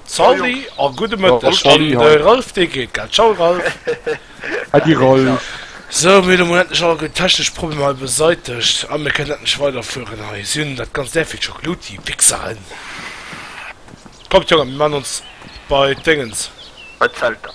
Salut a gudde Mëtteg an de Ralph dee geet gell. Ciao Ralph. Adi Ralph. Sou, mir hu mol endlech all gutt technesch Problemer hei beseitegt a mir kënnen endlech weiderfueren hei. Si hunn dat ganzt därfir scho geloot, déi Wichseren. Kommt Jongen, mir man ons bei d'Déngens. Bei d'Zelter.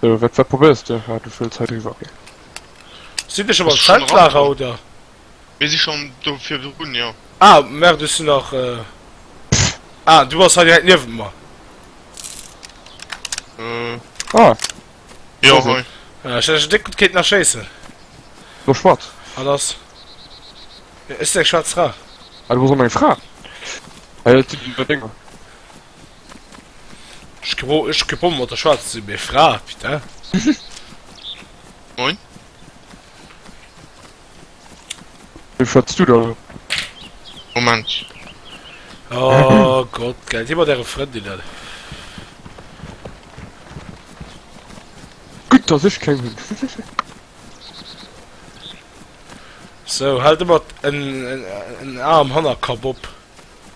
Wat wat probéiers de? War du vill Zäit eriwwer? Sinn ech am Zeltlager oder? Mir si schonn do virun, jo. Ah merde, ech sinn nach. Ah du bass hei direkt niewent mer. Ah jo hei. Ech hätt ech déck gutt kéinten erschéissen. Lo schwatt. Wat ass? Ech sinn eng schwaarz Fra. Ah du bass och eng Fra? Hei ass Dinger. Ech gebo ech gebonnen mat der Schwarz zu mir Fra putain. Moin. Wie schwätzt du da lo? Moment. Oh Gott, geil. Déi mat äre Frëndinnen. Gutt, dass ech keng hunn. So, haalt ëmmer en en en Aarm Hannerkapp op.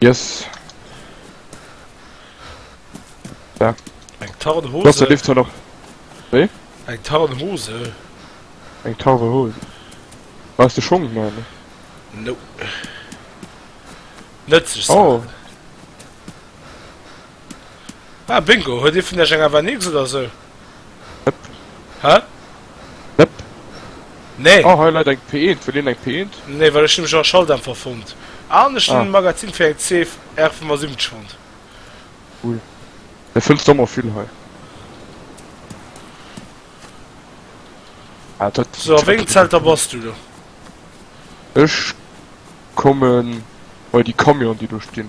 Yes. Ja. Eng tarn Hose. Wasser lift noch. Wie? Eng tarn Hose. Eng tarre Hose. Weißt du schon, meine? No. Nützlich. Oh. Ah, Bingo. Heute von der Schengen war nichts oder so. Hä? Nëpp. Nee. Oh, hei läit eng P1. Wëll een eng P1? Nee, well ech nämlech och e Schalldämpfer fonnt. An ech hunn e Magazin fir eng CFR75 fonnt. Cool. Da fënns du ëmmer vill hei. Ah, dat. So, a wéngem Zelter bass du do? Ech kommen bei déi Camionen, déi do stinn.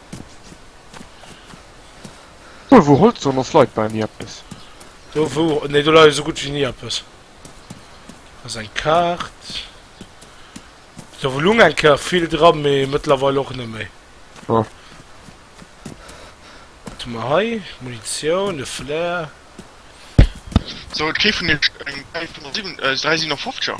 Do wou Holz dran ass leit bal ni eppes. Do wou, nee do leit esou gutt wéi ni eppes. Dat ass eng Kaart. Do wou lung eng Kéier vill dran, mee mëttlerweil och net méi. Jo. Wat hu mer hei? Munitioun, e Flair. So et kritt vun iech eng 357er.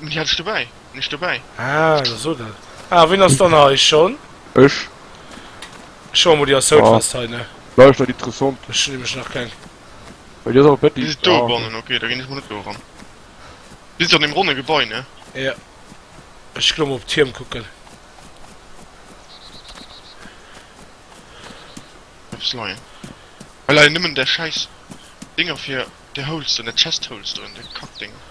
Déi hat ech dobäi, hunn ech dobäi. Ah, da so dat. Ah, wien ass dann hei? Sean? Ech. Sean, wou déi ass soud fest hei, ne? Lauscht dat interessant. Ech hunn nämlech nach keng. Well déi ass awer petit. Déi si do bannen, ok, da ginn ech mol net do eran. Déi sinn an deem ronne Gebai, ne? Jo. Ech ginn emol op d'Tierm kucken. Eppes leien. Hei leien nëmmen där schäiss Dinger fir där Holes do, där Chest Holes do, déi Kackdinger.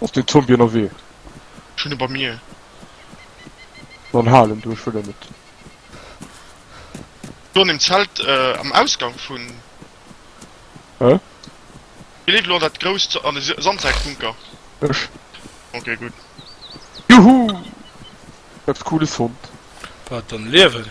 Ass den Zombie ënnerwee? Ech hunn e bei mir. Dann hal en do, ech wëll en net. Do an dem Zelt am Ausgang vun. Hä? Wie leeft elo an dat grousst an de Sandsäckbunker? Ech. Ok, gutt. Juhu! Eppes Cooles fonnt. Wat, an liewen?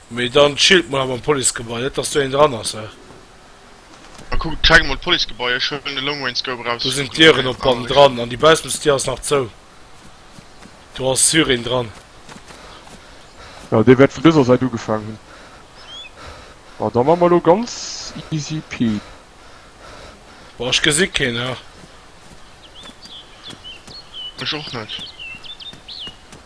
Mee dann chillt mol awer am Policegebai, net dass do een dran ass hä. An kuckt, checkt mol d'Policegebai, ech huelen de Long Range Scope eraus. Do sinn d'Dieren op bannen dran an déi Bausmesdier ass nach zou. Do ass sur een dran. Jo, dee wäert vun dëser Säit ugefaangen hunn. Bon, da man mer elo ganz easy pee. Bon, ech gesi keen hä. Ech och net.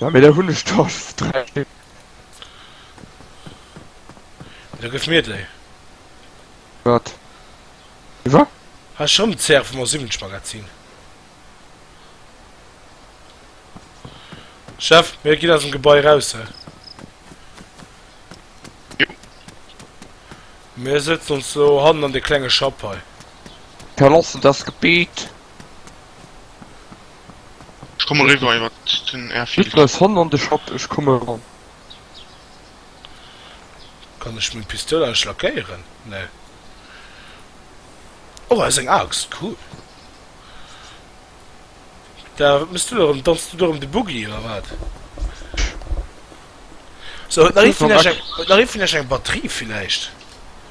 Ja mee da hun ech der scho 3 Stück. Da gëff mir déi. Wat? Iwwer? Has schon den CR vum Osimovic Magazin? Chef, mir ginn aus dem Gebai raus, he. Jo. Mir setzen ons elo hannen an dee klenge Schapp hei. Verlassen das Gebiet. Ech komme riwwer iwwer den Airfield. Hitler ass hon an de Shop, ech komme eran. Kann ech meng Pistoul eigentlech lackéieren? Nee. Oh, ass eng Axt, cool. Da wat mëss du do erëm? Danz du do erëm de Boogie oder wat? So, huet nach ee vun iech eng Batterie villäicht?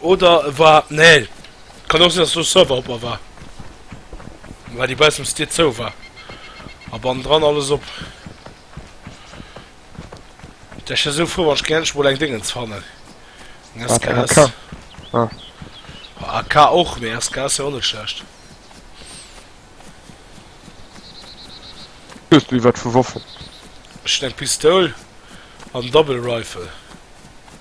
Oder e war, nee, kann och sinn dass do Server op a war, well déi baussens Dier zou war a bannendran alles op. Dech ech esou frou wann ech géing endlech mol eng Dingens fannen, eng SKS. Wat, eng AK? Ah. Bah, AK och, mee SKS ass jo och net schlecht. Hues du iwwert vu Woffen? Ech hunn eng Pistoul an Double Rifle.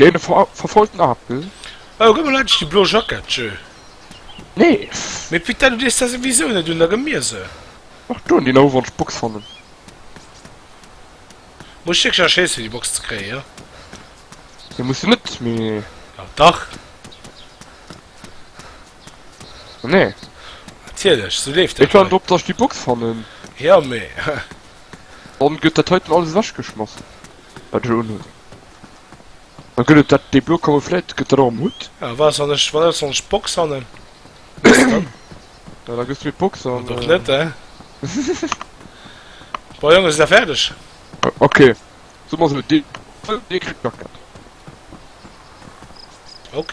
Dee verfollten Apel. Oh, gëtt mer endlech déi blo Jackett, Jeu. Nees. Mee Pit, du dees der souwisou net un, da gëtt mir se. Och do hunn déi Nouwonsch Box fannen. Muss ech wierklech nach Schéiss fir déi Box ze kréien, jo? Nee, muss de net, mee. Jo, dach. Nee. Natierlech, sou leeft dat. Ech warden drop, dass ech déi Box fannen. Jo, mee. Dann gëtt dat heiten alles ewechgeschmass, wat ech unhunn. Dann gëtt et dat, déi blo Camouflette gëtt dat och am Hutt. A wat ass, wann ech, wat ass, wann ech d'Box fannen? Ja, da gëss du mir d'Box an. Dann och net, hä? Bon, Jongen, si der fäerdeg? Ok, soe mer esou, dee kritt d'Jackett. Ok.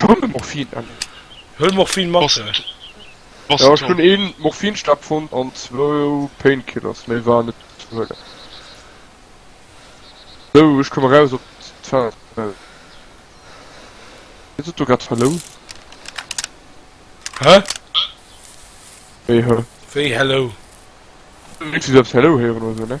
Hunn Morphin an. Huel Morphin mat. Jo ech hunn een Morphinstab fonnt an zwou Painkillers méi war net ze huelen. Sou ech komm eraus op d'Feld. Huet se do grad Hallo? Hä? Wéi Hä? Wéi Hello? Huet se eppes Hello héieren oder sou ne?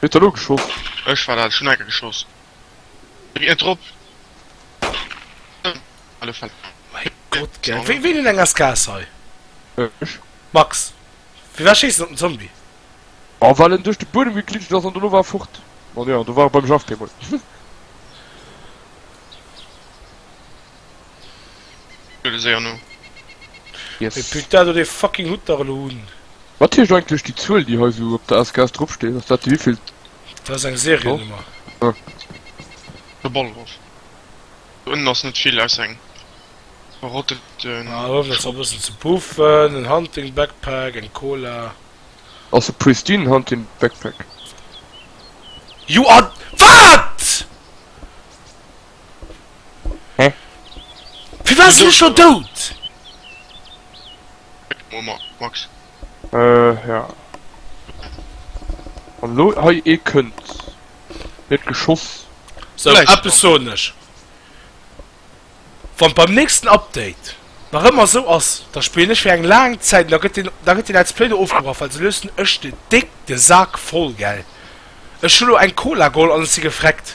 Wee huet dat elo geschoss? Ech war dat, ech hun enker geschoss wéi et drop Mäi Gott gell, wéi wéi nun eng as Gas hei? Ech. Max, firwat schéiss en op den Zombie? Oh well en duerch de Buedem geglitscht ass an dono war e fort. An jo, an do war e beim Jeff bemol. Yes. Putain, dat huet ee fucking Hutt nach elo un! Wat heescht eigentlech déi Zuel déi hei sou op der SKS drop steet? Ass dat déi wéivill? Dat ass eng Seriennummer. Ah. De Ballrof. Do ënnen ass net vill ausser eng verrotteten. Ah, huelen ech nach e bëssen ze puffen, en Hunting Backpack, eng Cola. Ass e pristine Hunting Backpack. Jo, a wat? Firwat sinn ech scho dout? Max. Äh ja. An lo hei ee kënnt. Gëtt geschoss. Sou eppes soen ech. Wann beim nächsten Update nach ëmmer esou ass, da spillen ech fir eng laang Zäit an da gëtt deen, da gëtt dee Let's Play do ofgebrach, well sou luessen ech de déck de Sak voll, gell. Ech hu lo eng Cola geholl an ech si gefreckt.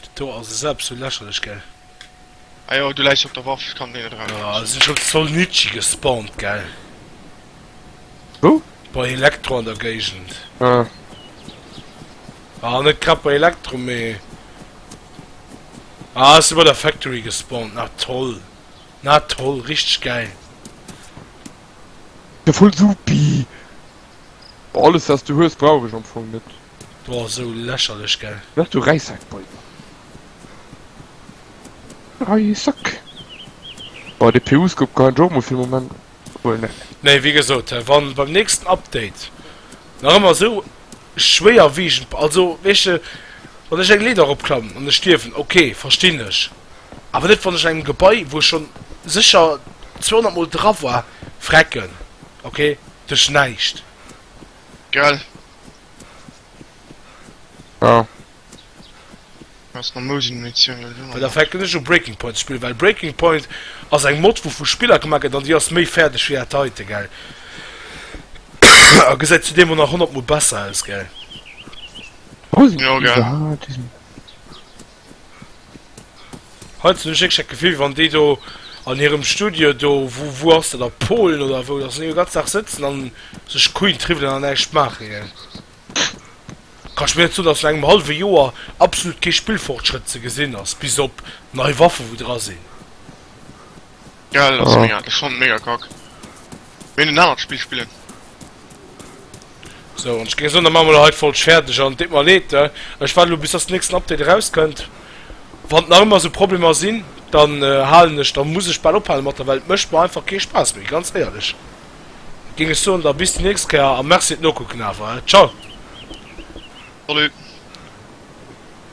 Dit do ass esou eppes vu lächerlech, gell? Ajo, du läichs op der Waff, kann deen net erausschéissen. Ah, sinn ech op Solnici gespawnt, gell? Wou? Bei Elektro an der Géigend. Ah. Ah, net grad bei Elektro, mee. Ah, ass du bei der Factory gespawnt? Na toll! Na toll, richteg gäil! Voll supi! Alles, wat s du hues, brauch ech am Fong net. Boah esou lächerlech gell. Wou hues du Reissackbäumer? Reissack? Boah de PU Scope kann een jo och mol fir e Moment huelen. Nee wéi gesot, wann beim nächsten Update nach ëmmer esou schwéier wiegend, also weess de wann ech eng Leeder eropklammen an ech stierwen, ok verstinn ech, awer net wann ech an engem Gebai wou ech schonn sécher 200 mol dra war frecken, ok duerch näischt. Gell? Ja. Ass no Mousen Munitioun elo Mä da nach. fänken ech u Breaking Point ze spillen, well Breaking Point ass eng Mod wou vu Spiller gemaach gëtt an déi ass méi fäerdeg wéi dat heiten, gell? A gesäit zudeem och nach 100 mol besser aus, gell? Mousen Jo, gell. Iwwerhaaten. Heiansdo hun ech wierklech dat Gefill, wann déi do an hirem Studio do, wou, wou ass dat, a Polen oder wou, dass se do e ganzen Dag sëtzen a sech d'Queen triwwelen an näischt maachen. Hien kann ech mir net soen, dass no engem hallwe Joer absolut kee Spillfortschrëtt ze gesinn ass, bis op nei Waffen, wou dra sinn. Geil, ass mega, ass schon mega kack. Wéi en anert Spill spillen. So, an ech géing soen, da maache mer lo hei d'Folg fäerdeg, an et deet mer leed, ne, ech waarde lo bis dass den nächsten Update erauskënnt. Wann nach ëmmer esou Problemer sinn, dann halen ech, da muss ech bal ophale mat der, well et mécht mer einfach kee Spaass méi, ganz éierlech géing ech soen. Da bis déi nächst Kéier, a merci fir d'Nokucken awer, ciao. Salut.